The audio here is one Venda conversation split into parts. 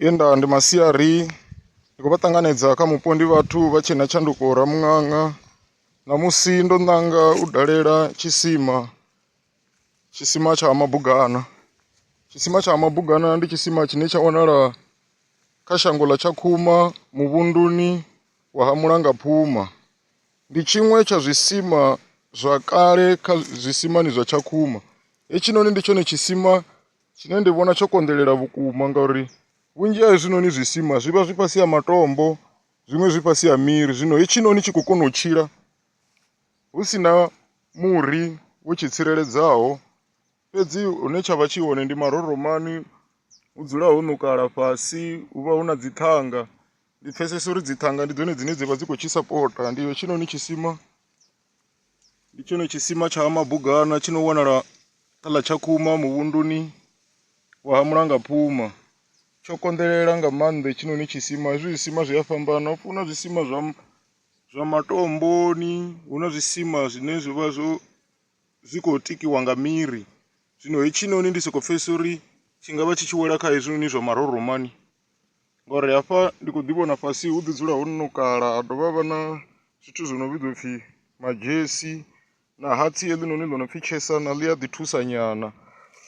Ye nda ndi masiari ndi khou vha ṱanganedza kha mupo ndi vhathu vha tshe na tshanduko Ramuṅaṅa ṋamusi ndo ṋanga u dalela tshisima tshisima tsha Ha Mabugana. Tshisima tsha Ha Mabugana ndi tshisima tshine tsha wanala kha shango ḽa Tshakhuma muvhunduni wa Ha Mulangaphuma. Ndi tshiṅwe tsha zwisima zwa kale kha zwisimani zwa Tshakhuma, hetshinoni ndi tshone tshisima Tshine ndi vhona tsho konḓelela vhukuma ngauri vhunzhi ha hezwinoni zwisima zwi vha zwi fhasi ha matombo zwiṅwe zwi fhasi ha miri zwino hetshinoni tshi khou kona u tshila hu si na muri wo tshi tsireledzaho fhedzi hune tsha vha tshi hone ndi maroromani hu dzula ho ṋukala fhasi hu vha hu na dzi ṱhanga. Ndi pfhesesa uri dzi ṱhanga ndi dzone dzine dza vha dzi khou tshi sapota ndi hetshinoni tshisima. Ndi tshone tshisima tsha Ha Mabugana tshi no wanala kha ḽa Tshakhuma muvhunduni wa Ha Mulangaphuma. Tsho konḓelela nga maanḓa hetshinoni tshisima, hezwi zwisima zwi a fhambana hafhu hu na zwisima zwa zwa matomboni, hu na zwisima zwine zwi vha zwo zwi khou tikiwa nga miri, zwino hetshinoni ndi soko pfhesesa uri tshi ngavha tshi tshi wela kha hezwinoni zwa Maroromani. Ngori hafha ndi kho ḓi vhona fhasi hu ḓi dzula ho nukala ha dovha ha vha na zwithu zwi no vhidzwa upfhi madzhesi na hatsi heḽinoni ḽo no pfhi tshesana ḽi a ḓi thusa nyana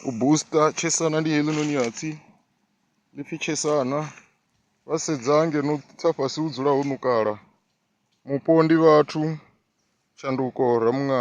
u booster tshesana ndi heḽinoni hatsi ḽi pfhi tshesana. Wa sedza ngeno tsa fhasi hu dzula ho nukala mupo ndi vhathu tshanduko ramuṋanga.